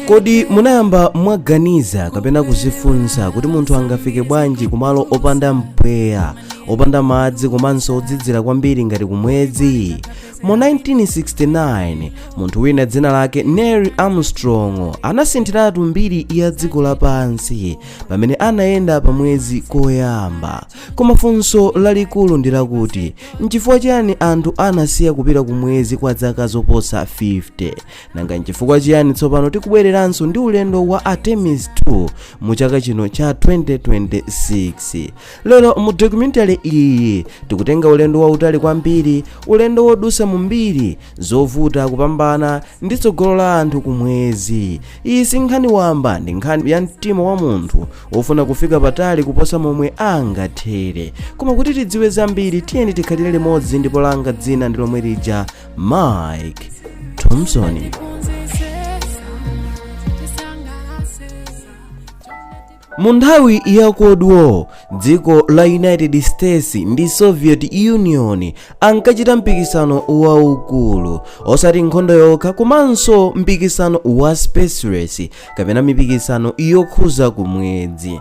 kodi munayamba mwaganiza kapena kuzifunsa kuti munthu angafike bwanji kumalo opanda mpweya opanda madzi komanso ozizira kwambiri ngati kumwezi mu 1969 munthu wina dzina lake neil armstrong anasinthiratu mbiri ya dziko lapansi pamene anayenda pa mwezi koyamba koma funso lalikulu ndi lakuti N'chifukwa chiyani anthu anasiya kupita ku mwezi kwa zaka zoposa 50? Nanga n'chifukwa chiyani tsopano tikubwereranso ndi ulendo wa Artemis 2 mu chaka chino cha 2026? Lero mu documentary iyi tikutenga ulendo wautali kwambiri, ulendo wodutsa mu mbiri, zovuta kupambana ndi tsogolo la anthu ku mwezi. iyi si nkhani wamba ndi nkhani ya mtima wa munthu wofuna kufika patali kuposa momwe angathere koma kuti tidziwe zambiri tiyeni tikhalire limodzi ndipo langa dzina ndi lomwe lija mike thompson mu nthawi ya cold war dziko la united states ndi soviet union ankachita mpikisano waukulu osati nkhondo yokha komanso mpikisano wa space race kapena mipikisano yokhudza kumwezi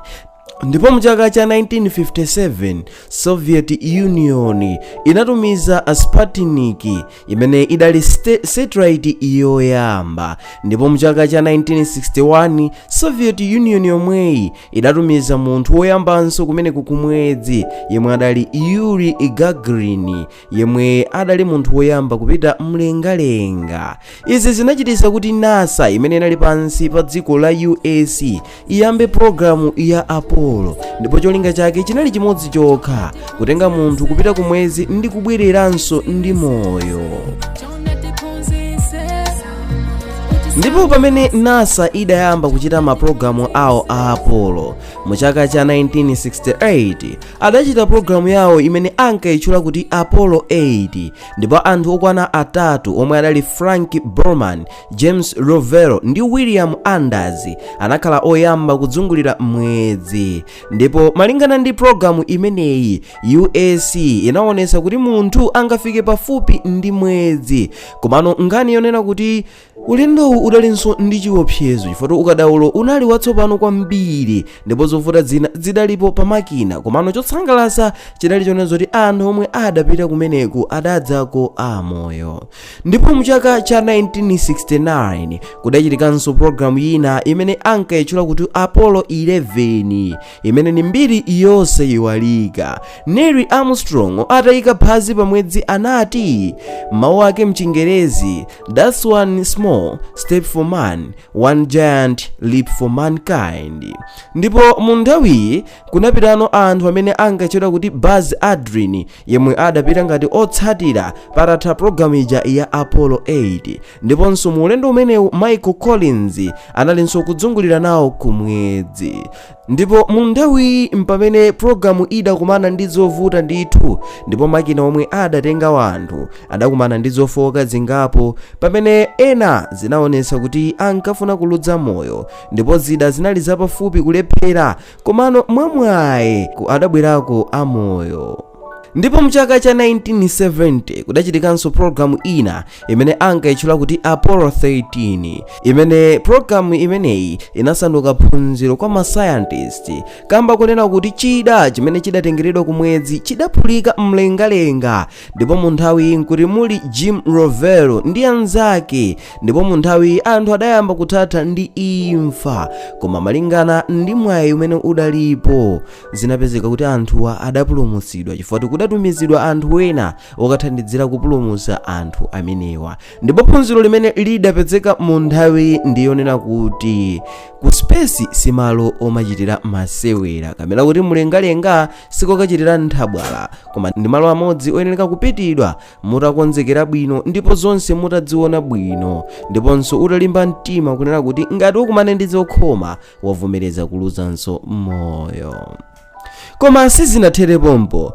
ndipo mchaka cha 1957 soviet union inatumiza sputnik imene idali satellite yoyamba ndipo mchaka cha 1961 soviet union yomweyi idatumiza munthu woyambanso kumene ku kumwezi yemwe adali yuri gagarin yemwe adali munthu woyamba kupita mlengalenga izi zinachititsa kuti nasa imene inali pansi pa dziko la us iyambe pulogalamu ya apollo ndipo cholinga chake chinali chimodzi chokha kutenga munthu kupita ku mwezi ndi kubwereranso ndi moyo ndipo pamene nasa idayamba kuchita mapulogalamu awo a apollo mu chaka cha 1968 adachita pulogalamu yawo imene ankayitchula kuti apollo 8 ndipo anthu okwana atatu omwe adali frank borman james lovell ndi william anders anakhala oyamba kuzungulira mwezi ndipo malingana ndi pulogalamu imeneyi us inaonetsa kuti munthu angafike pafupi ndi mwezi komano nkhani yonena kuti ulendowu udalinso ndi chiopsezo chifukwa ukadaulo unali watsopano kwambiri ndipo zovuta zina zidalipo pa makina komano chosangalatsa chidali chonena zoti anthu omwe adapita kumeneku adadzako amoyo ndipo mu chaka cha 1969 kudachitikanso pologalamu yina imene ankayitchula kuti apollo 11 imene ni mbiri yonse yiwalika neil armstrong ataika phazi pa mwezi anati mawu ake mchingerezi thats one small step for man one giant leap for mankind ndipo mu nthawiyi Kunapitano anthu amene ankatchedwa kuti Buzz Aldrin yemwe adapita ngati otsatira patatha pulogalamu ija ya Apollo 8 ndiponso mu ulendo umenewu Michael Collins analinso kuzungulira nawo ku mwezi ndipo mu nthawiyi mpamene pulogalamu idakumana ndi zovuta ndithu ndipo makina omwe adatenga wanthu adakumana ndi zofooka zingapo pamene ena zinaonetsa kuti ankafuna kuluza moyo ndipo zida zinali zapafupi kulephera komano mwamwayi adabwerako amoyo ndipo mchaka cha 1970 kudachitikanso pologalamu ina imene ankayitchula kuti apollo 13 imene pologalamu imeneyi inasanduka phunziro kwa masayantisti kamba konena kuti chida chimene chidatengeredwa kumwezi chidaphulika mlengalenga ndipo mu nthawiyi nkuti muli jim lovell ndi anzake ndipo mu nthawiyi anthu adayamba kuthatha ndi imfa koma malingana ndi mwayi umene udalipo zinapezeka kuti anthuwa adapulumutsidwa chifukwa choti kudatumizidwa anthu ena okathandizira kupulumutsa anthu amenewa ndipo phunziro limene lidapezeka mu nthawiyi ndiyonena kuti ku space si malo omachitira masewera kapena kuti mlengalenga sikokachitira nthabwala koma ndi malo amodzi oyenera kupitidwa mutakonzekera bwino ndipo zonse mutaziona bwino ndiponso utalimba mtima kunena kuti ngati ukumane ndi zokhoma wavomereza kuluzanso moyo koma sizinathere pompo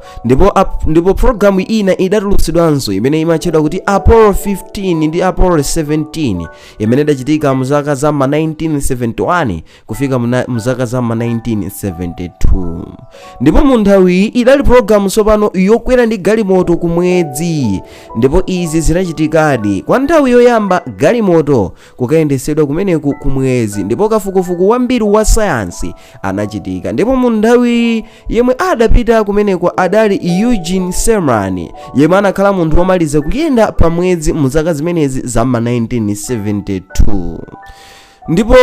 ndipo programu ina idatulutsidwanso imene imatchedwa kuti apollo 15 ndi apollo 17 imene idachitika mu zaka za ma 1971 kufika mu zaka za ma 1972 ndipo mu nthawiyi idali pologalamu tsopano yokwera ndi galimoto ku mwezi ndipo izi zinachitikadi kwa nthawi yoyamba galimoto kukayendetsedwa kumeneku ku mwezi ndipo kafukufuku wambiri wa sayansi anachitika ndipo mu nthawi yemwe adapita kumeneko adali eugene cernan yemwe anakhala munthu womaliza kuyenda pa mwezi mu zaka zimenezi za ma 1972 ndipo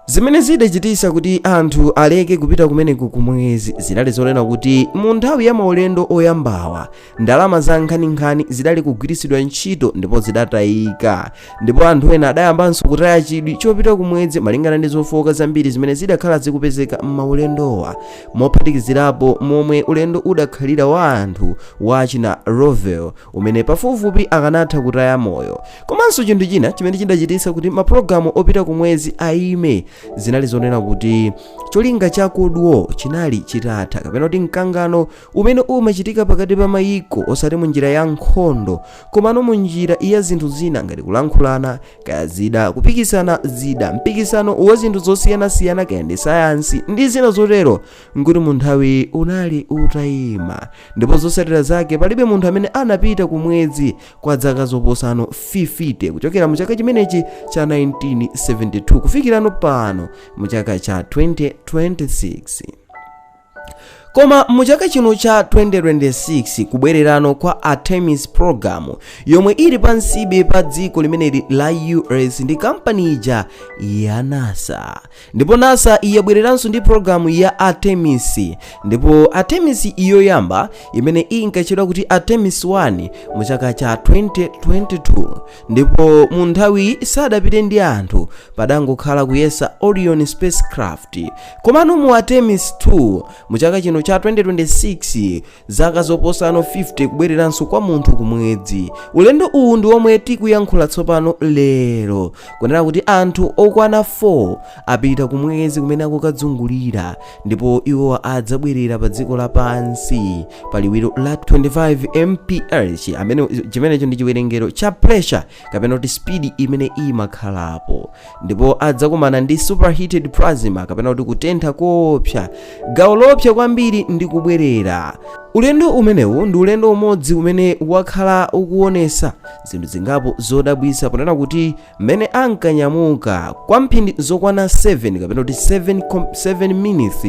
zimene zidachititsa kuti anthu aleke kupita kumeneko kumwezi zidali zonena kuti mu nthawi ya maulendo oyambawa ndalama za nkhaninkhani zidali kugwiritsidwa ntchito ndipo zidatayika ndipo anthu ena adayambanso kutaya chidwi chopita kumwezi malingana ndi zofooka zambiri zimene zidakhala zikupezeka m'maulendowa mophatikizirapo momwe ulendo udakhalira wa anthu wa achina Lovell umene pafupifupi akanatha kutaya moyo komanso chinthu china chimene chidachititsa kuti mapulogalamu opita ku mwezi ayime zinali zonena kuti cholinga cha cold war chinali chitatha kapena kuti mkangano umene umachitika pakati pa mayiko osati mu njira ya nkhondo komano mu njira ya zinthu zina ngati kulankhulana kaya zida kupikisana zida mpikisano wa zinthu zosiyanasiyana kaya ndi sayansi ndi zina zotero nkuti mu nthawi unali utayima ndipo zosatira zake palibe munthu amene anapita ku mwezi kwa dzaka zoposano 50 kuchokera mu chaka chimenechi cha 1972 kufikirano pano mu chaka cha 2026 koma mu chaka chino cha 2026 kubwererano kwa artemis program yomwe ili pansibe pa dziko limeneli la us ndi kampani ija ya nasa ndipo nasa yabwereranso ndi pologalamu ya artemis ndipo artemis yoyamba imene inkatchedwa kuti artemis 1 mu chaka cha 2022 ndipo mu nthawi sadapite ndi anthu padangokhala kuyesa orion spacecraft komano mu artemis 2 mu chaka chino cha 2026 zaka zoposano 50 kubwereranso kwa munthu kumwedzi ulendo uwu ndi womwe tikuyankhula tsopano lero kunena kuti anthu okwana 4 apita kumwezi kumene akukadzungulira ndipo iwo adzabwerera pa dziko lapansi pa liwiro la 25 mph amene chimenecho ndi chiwerengero cha pressure kapena kuti speed imene imakhalapo ndipo adzakumana ndi superheated plasma kapena kuti kutentha koopsa gawo loopsa kwambiri ndi kubwerera ulendo umenewu ndi ulendo umodzi umene wakhala ukuonesa zinthu zingapo zodabwisa ponena kuti mmene ankanyamuka kwa mphindi zokwana 7 kapena kuti 7 minutes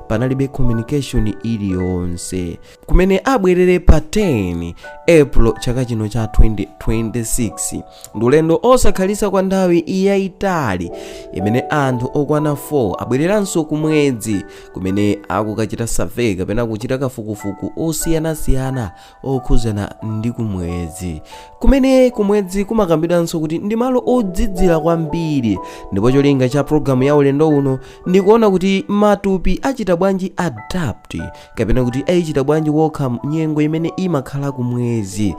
panalibe communication iliyonse kumene abwerere pa 10 april chaka chino cha 2026 ndi ulendo osakhalitsa kwa nthawi yayitali imene anthu okwana 4 abwereranso kumwedzi kumene akukachita survey kapena kuchita kafukufuku osiyanasiyana okhuzana ndi kumwedzi kumene kumwedzi kumakambidwanso kuti ndi malo odzidzira kwambiri ndipo cholinga cha programu ya ulendo uno ndikuona kuti matupi achita bwanji adapt kapena kuti ayichita bwanji wokha nyengo imene imakhala kumwezi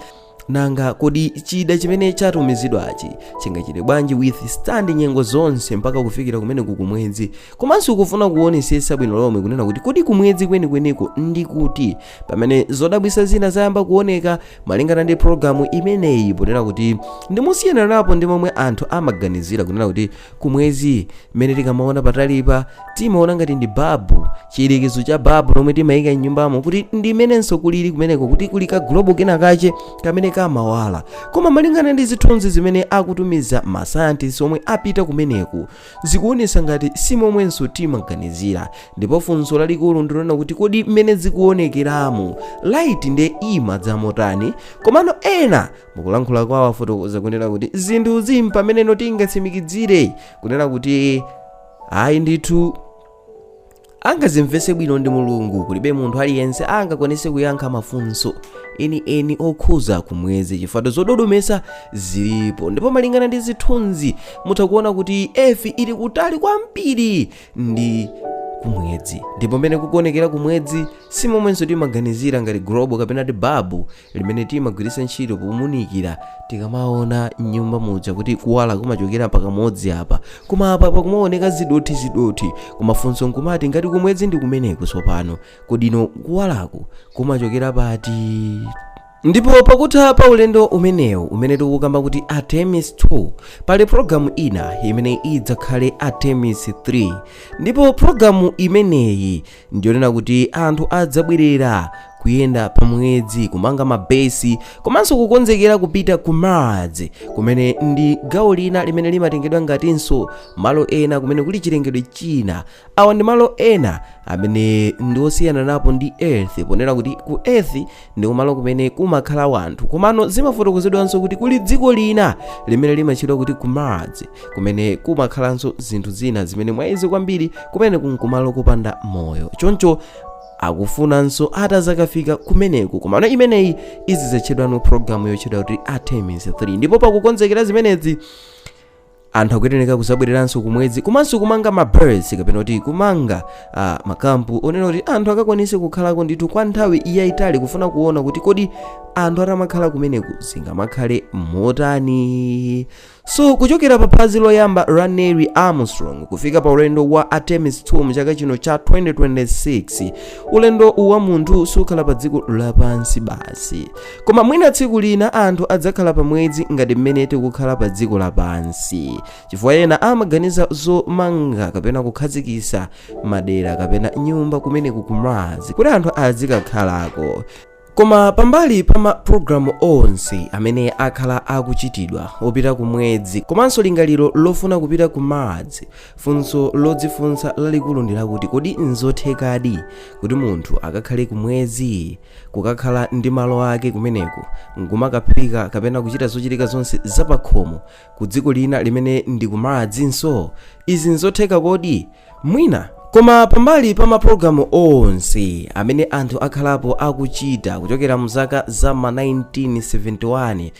nanga kodi chida chimene chatumizidwachi chingachite bwanji withstand nyengo zonse mpaka kufikira kumene kukumwezi komanso kufuna kuonesesa bwino lomwe kunena kuti kodi kumwezi kwenikweniko ndi kuti pamene zodabwisa zina zayamba kuoneka malingana ndi programu imeneyi ponena kuti ndi kosiyana napo ndi momwe anthu amaganizira kunena kuti kumwezi mmene tikamaona patalipa timaona ngati ndi babu chiyerekezo cha babu lomwe timayika m'nyumbamu kuti ndi mmenenso kulili kumeneko kuti kuli ka globo kena kache kamene kamawala koma malingana ndi zithunzi zimene akutumiza masayantisti omwe apita kumeneku zikuonesa ngati si momwenso timaganizira ndipo funso lalikulu ndi lonena kuti kodi mmene zikuonekeramo light nde imadza motani komano ena mukulankhula kwawo afotokoza kunena kuti zinthuzi mpameneno tingatsimikizire kunena kuti ayi ndithu angazimvese bwino ndi mulungu kulibe munthu aliyense angakwanise kuyankha mafunso enieni okhuza kumwezi chifukwa zododomesa zilipo ndipo malingana ndi zithunzi mutha kuona kuti earth ili kutali kwambiri ndi kumwedzi ndipo mmene kukuonekera kumwedzi si momwenso timaganizira ngati globo kapena ti babu limene timagwiritsa ntchito pounikira tikamaona mnyumba muja kuti kuwala kumachokera pakamodzi apa koma apa pakumaoneka zidothi zidothi koma funso nkumati ngati kumwedzi ndi kumeneku tsopano kodi no kuwalaku kumachokera pati ndipo pakutha pa ulendo umenewu umene tikukamba kuti artemis 2 pali pologalamu ina imene idzakhale artemis 3 ndipo pologalamu imeneyi ndiyonena kuti anthu adzabwerera kuyenda pa mwedzi kumanga mabesi komanso kukonzekera kupita ku mars kumene ndi gawo lina limene limatengedwa ngatinso malo ena kumene kuli chilengedwe china awa ndi malo ena amene ndi osiyana napo ndi earth ponena kuti ku earth ndi kumalo kumene kumakhala wanthu komano zimafotokozedwanso kuti kuli dziko lina limene limatchedwa kuti ku mars kumene kumakhalanso zinthu zina zimene mwazi kwambiri kumene kunkumalo kopanda moyo choncho akufunanso atazakafika kumeneku komano imeneyi izizatchedwa no programu yotchedwa kuti artemis 3 ndipo pakukonzekera zimenezi anthu akuyenereka kuzabwereranso kumwedzi komanso kumanga ma base kapena kuti kumanga ah, makampu onena kuti anthu akakwanise kukhalako ndithu kwa nthawi yayitali kufuna kuona kuti kodi anthu atamakhala kumeneku zingamakhale motani so kuchokera pa phazi loyamba la Neil Armstrong kufika pa ulendo wa Artemis 2 mchaka chino cha 2026 ulendo wa munthu sukhala pa dziko lapansi basi Koma mwina tsiku lina anthu adzakhala pa mwezi ngati mmene tikukhala pa dziko lapansi, chifukwa ena amaganiza zomanga kapena kukhazikisa madera kapena nyumba kumeneku ku Mars kuti anthu azikakhalako. Koma pambali pa mapulogalamu onse amene akhala akuchitidwa opita ku mwezi komanso lingaliro lofuna kupita ku Mars, funso lodzifunsa lalikulu ndi lakuti kodi n'zothekadi kuti munthu akakhale ku mwezi? kukakhala ndi malo ake kumeneku nkumakaphika kapena kuchita zochitika zonse zapakhomo ku dziko lina limene ndi ku Mars nso izi nzotheka kodi mwina koma pambali pa mapulogalamu onse amene anthu akhalapo akuchita kuchokera mu zaka za ma 1971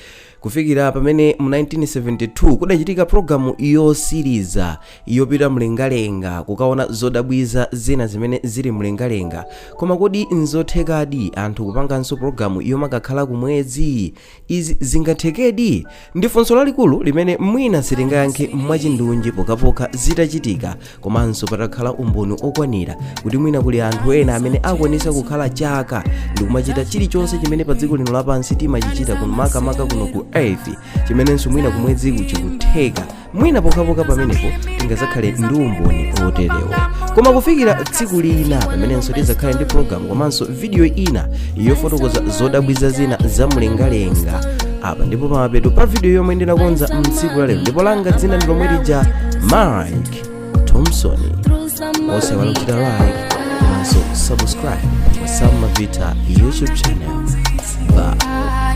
kufikira pamene mu 1972 kudachitika pulogalamu yosiriza yopita mlengalenga kukaona zodabwiza zina zimene zili mlengalenga koma kodi nzothekadi anthu kupanganso pulogalamu yomakakhala kumwezi izi zingathekedi ndi funso lalikulu limene mwina sitingayankhe mwachindunji pokhapokha zitachitika komanso patakhala umboni okwanira kuti mwina kuli anthu ena amene akwanisa kukhala chaka ndikumachita chilichonse chimene pa dziko lino lapansi timachichita kuno makamaka kuno ku earth chimenenso mwina kumweziku chikutheka mwina pokhapokha pamenepo tingazakhale ndi umboni oterewo koma kufikira tsiku lina pamenenso tizakhale ndi programu komanso vidiyo ina yofotokoza zodabwiza zina za mlengalenga apa ndi po pamapeto pa vidiyo yomwe ndinakonza mtsiku la lero ndipo langa dzina ndi lomwe lija mike thompson osaiwala kuchita like komanso subscribe pa sam mavita youtube channel bye